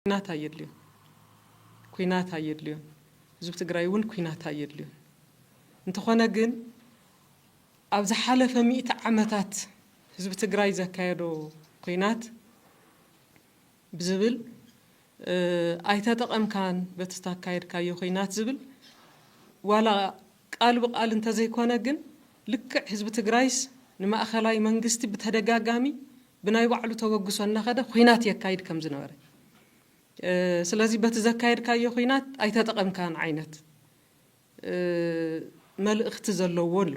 ኩናት ኣየድልዮን ኩናት ኣየድልዮን ህዝቢ ትግራይ እውን ኩናት ኣየድልዮን እንተኾነ ግን ኣብ ዝሓለፈ ሚእቲ ዓመታት ህዝቢ ትግራይ ዘካየዶ ኩናት ብዝብል ኣይተጠቐምካን በቲ ታካየድካዮ ኩናት ዝብል ዋላ ቃል ብቃል እንተዘይኮነ ግን ልክዕ ህዝቢ ትግራይስ ንማእኸላይ መንግስቲ ብተደጋጋሚ ብናይ ባዕሉ ተበግሶ እናኸደ ኹናት የካይድ ከም ዝነበረ ስለዚ በቲ ዘካየድካዮ ኹናት ኣይተጠቐምካን ዓይነት መልእኽቲ ዘለዎ ኣሎ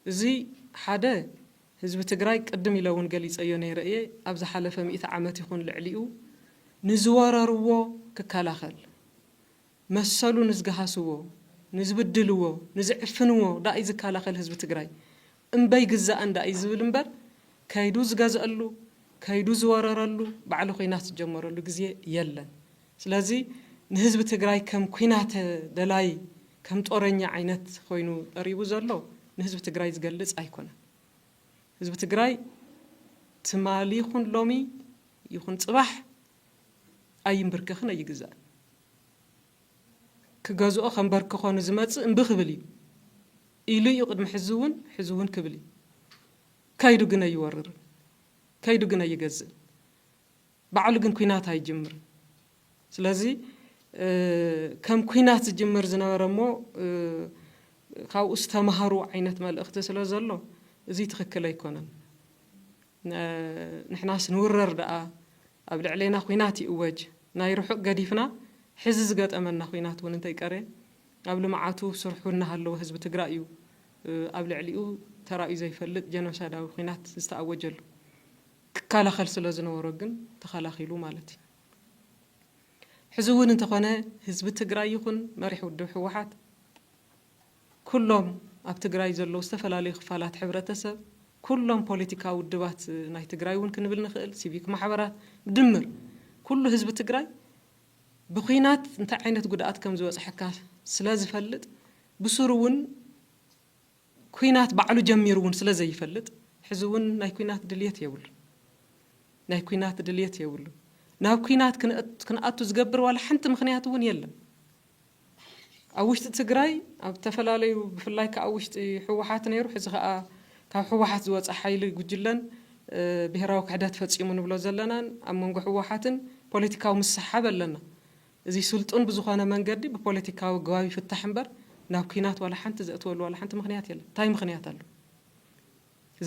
እዚ ሓደ ህዝቢ ትግራይ ቅድም ኢለ እውን ገሊፀዮ ነይረ እየ ኣብ ዝሓለፈ ሚእቲ ዓመት ይኹን ልዕሊኡ ንዝወረርዎ ክከላኸል መሰሉ ንዝገሃስዎ፣ ንዝብድልዎ፣ ንዝዕፍንዎ ዳእዩ ዝከላኸል ህዝቢ ትግራይ? እምበይ ግዛእን ዳእዩ ዝብል እምበር ከይዱ ዝገዝኣሉ፣ ከይዱ ዝወረረሉ፣ ባዕሉ ኹናት ዝጀመረሉ ግዜ የለን። ስለዚ ንህዝቢ ትግራይ ከም ኹናት ደላይ፣ ከም ጦረኛ ዓይነት ኾይኑ ቀሪቡ ዘሎ ንህዝቢ ትግራይ ዝገልፅ ኣይኮነን። ህዝቢ ትግራይ ትማሊ ይኹን ሎሚ ይኹን ፅባሕ ኣይምብርከኽን ኣይግዛእን። ክገዝኦ ከንበርክኾ ንዝመጽእ እምቢ ክብል እዩ። ኢሉ እዩ ቅድሚ ሕዚ እውን ሕዚ እውን ክብል እዩ። ከይዱ ግን ኣይወርርን። ከይዱ ግን ኣይገዝእን። ባዕሉ ግን ኩናት ኣይጅምርን። ስለዚ ከም ኩናት ዝጅምር ዝነበረ እሞ ካብኡ ዝተማሃሩ ዓይነት መልእኽቲ ስለ ዘሎ እዚ ትኽክል ኣይኮነን። ንሕናስ ንውረር ደኣ ኣብ ልዕሌና ኹናት ይእወጅ ናይ ርሑቕ ገዲፍና ሕዚ ዝገጠመና ኹናት እውን እንተይቀረየ ኣብ ልምዓቱ ስርሑ እናሃለወ ህዝቢ ትግራይ እዩ ኣብ ልዕሊኡ ተራእዩ ዘይፈልጥ ጀኖሳይዳዊ ኹናት ዝተኣወጀሉ። ክከላኸል ስለዝነበሮ ግን ተኸላኺሉ ማለት እዩ። ሕዚ እውን እንተኾነ ህዝቢ ትግራይ ይኹን መሪሕ ውድብ ህወሓት፣ ኩሎም ኣብ ትግራይ ዘለዉ ዝተፈላለዩ ክፋላት ሕብረተሰብ፣ ኩሎም ፖለቲካዊ ውድባት ናይ ትግራይ እውን ክንብል ንኽእል፣ ሲቪክ ማሕበራት፣ ብድምር ኩሉ ህዝቢ ትግራይ ብኲናት እንታይ ዓይነት ጉድኣት ከም ዝበፅሐካ ስለዝፈልጥ ብሱሩ እውን ኲናት ባዕሉ ጀሚሩ እውን ስለዘይፈልጥ ሕዚ እውን ናይ ኲናት ድልየት የብሉን። ናይ ኲናት ድልየት የብሉን። ናብ ኲናት ክንኣቱ ዝገብር ዋላ ሓንቲ ምኽንያት እውን የለን። ኣብ ውሽጢ ትግራይ ኣብ ተፈላለዩ ብፍላይ ክኣ ኣብ ውሽጢ ህወሓት ነይሩ ሕዚ ክኣ ካብ ህወሓት ዝወፀ ሓይሊ ጉጅለን ብሄራዊ ክሕደት ፈፂሙ ንብሎ ዘለናን ኣብ መንጎ ህወሓትን ፖለቲካዊ ምስሕሓብ ኣለና። እዙይ ስልጡን ብዝኾነ መንገዲ ብፖለቲካዊ ኣገባብ ይፍታሕ እምበር ናብ ኩናት ዋላ ሓንቲ ዘእትወሉ ዋላ ሓንቲ ምኽንያት የለን። እንታይ ምኽንያት ኣሎ?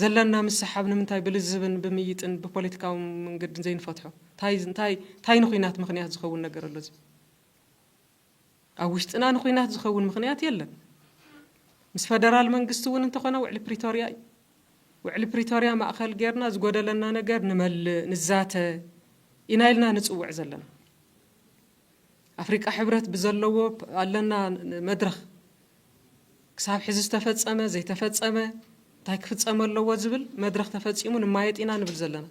ዘለና ምስሕሓብ ንምንታይ ብልዝብን ብምይጥን ብፖለቲካዊ መንገድን ዘይንፈትሖ? እንታይ እንታይ እንታይ ንኹናት ምኽንያት ዝኸውን ነገር ኣሎ እዙይ? ኣብ ውሽጥና ንኹናት ዝኸውን ምኽንያት የለን። ምስ ፈደራል መንግስቲ እውን እንተኾነ ውዕሊ ፕሪቶርያ እዩ። ውዕሊ ፕሪቶርያ ማእኸል ጌርና ዝጎደለና ነገር ንመልእ፣ ንዛተ ኢና ኢልና ንፅውዕ ዘለና። ኣፍሪቃ ሕብረት ብዘለዎ ኣለና መድረኽ ክሳብ ሕዚ ዝተፈፀመ፣ ዘይተፈፀመ፣ እንታይ ክፍፀም ኣለዎ ዝብል መድረኽ ተፈፂሙ ንማየጥ ኢና ንብል ዘለና።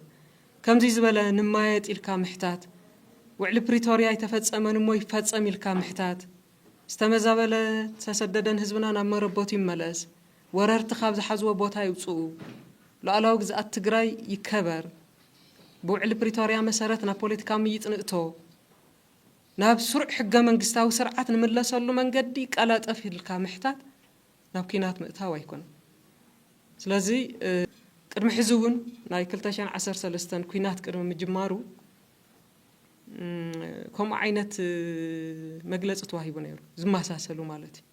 ከምዙይ ዝበለ ንማየጥ ኢልካ ምሕታት፣ ውዕሊ ፕሪቶርያ ኣይተፈፀመን እሞ ይፈፀም ኢልካ ምሕታት፣ ዝተመዛበለ ዝተሰደደን ህዝብና ናብ መረበቱ ይመለስ፣ ወረርቲ ካብ ዝሓዝዎ ቦታ ይውፅኡ፣ ሉኣላዊ ግዝኣት ትግራይ ይከበር፣ ብውዕሊ ፕሪቶርያ መሰረት ናብ ፖለቲካዊ ምይይጥ ንእቶ፣ ናብ ስሩዕ ሕገመንግስታዊ ስርዓት ንምለሰሉ መንገዲ ቀላጠፍ ኢልካ ምሕታት ናብ ኲናት ምእታው ኣይኮነን። ስለዚ ቅድሚ ሕዚ እውን ናይ ክልተ ሽሕን ዓሰርተ ሰለስተን ኲናት ቅድሚ ምጅማሩ ከምኡ ዓይነት መግለፂ ተዋሂቡ ነይሩ፣ ዝመሳሰሉ ማለት እዩ።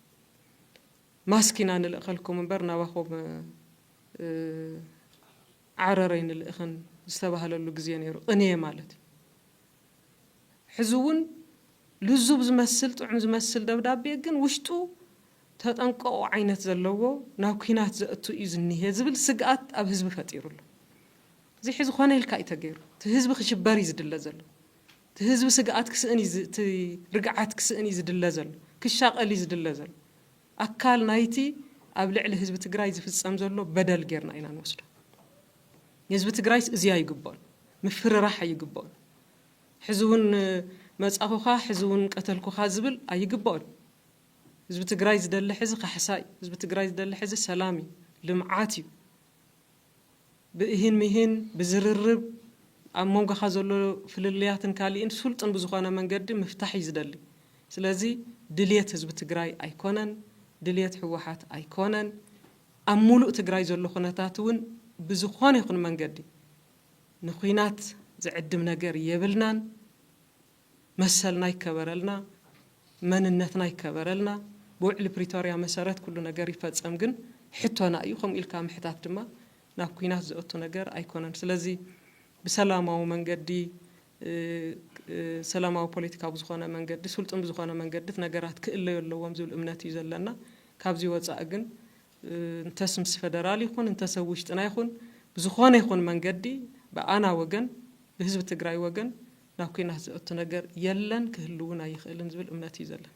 ማስክ ኢና ንልእኸልኩም እምበር ናባኹም ዓረረይ ንልእኽን ዝተባህለሉ ግዜ ነይሩ ቅንየ ማለት ሕዚ እውን ልዙብ ዝመስል ጥዑም ዝመስል ደብዳቤ ግን ውሽጡ ተጠንቀቑ ዓይነት ዘለዎ ናብ ኩናት ዘእቱ እዩ ዝኒሀ ዝብል ስግኣት ኣብ ህዝቢ ፈጢሩ ኣሎ እዚ ሕዚ ኮነ ኢልካ እዩ ተገይሩ እቲ ህዝቢ ክሽበር እዩ ዝድለ ዘሎ እቲ ህዝቢ ስግኣት ክስእን እቲ ርግዓት ክስእን እዩ ዝድለ ዘሎ ክሻቐል እዩ ዝድለ ዘሎ ኣካል ናይቲ ኣብ ልዕሊ ህዝቢ ትግራይ ዝፍፀም ዘሎ በደል ጌርና ኢና ንወስዶ። ንህዝቢ ትግራይስ እዚ ኣይግብኦን፣ ምፍርራሕ ኣይግብኦን፣ ሕዚ እውን መፃኹኻ ሕዚ እውን ቀተልኩኻ ዝብል ኣይግብኦን። ህዝቢ ትግራይ ዝደሊ ሕዚ ካሕሳ እዩ፣ ህዝቢ ትግራይ ዝደሊ ሕዚ ሰላም እዩ፣ ልምዓት እዩ። ብእሂን ምሂን፣ ብዝርርብ፣ ኣብ መንጎኻ ዘሎ ፍልልያትን ካሊእን ስልጡን ብዝኾነ መንገዲ ምፍታሕ እዩ ዝደሊ። ስለዚ ድልየት ህዝቢ ትግራይ ኣይኮነን፣ ድልየት ህወሓት ኣይኮነን፣ ኣብ ሙሉእ ትግራይ ዘሎ ኩነታት እውን ብዝኾነ ይኹን መንገዲ ንኹናት ዝዕድም ነገር የብልናን። መሰልና ይከበረልና መንነትና ይከበረልና ብውዕሊ ፕሪቶርያ መሰረት ኩሉ ነገር ይፈፀም ግን ሕቶና እዩ ከምኡ ኢልካ ምሕታት ድማ ናብ ኩናት ዘእቱ ነገር ኣይኮነን ስለዚ ብሰላማዊ መንገዲ ሰላማዊ ፖለቲካ ብዝኾነ መንገዲ ስልጡን ብዝኾነ መንገዲ ነገራት ክእለዩ ኣለዎም ዝብል እምነት እዩ ዘለና ካብዚ ወፃኢ ግን እንተስ ምስ ፌደራል ይኹን እንተስ ኣብ ውሽጥና ይኹን ብዝኾነ ይኹን መንገዲ ብኣና ወገን ብህዝቢ ትግራይ ወገን ናብ ኲናት ዘእቱ ነገር የለን፣ ክህሉ'ውን ኣይኽእልን ዝብል እምነት እዩ ዘለኒ።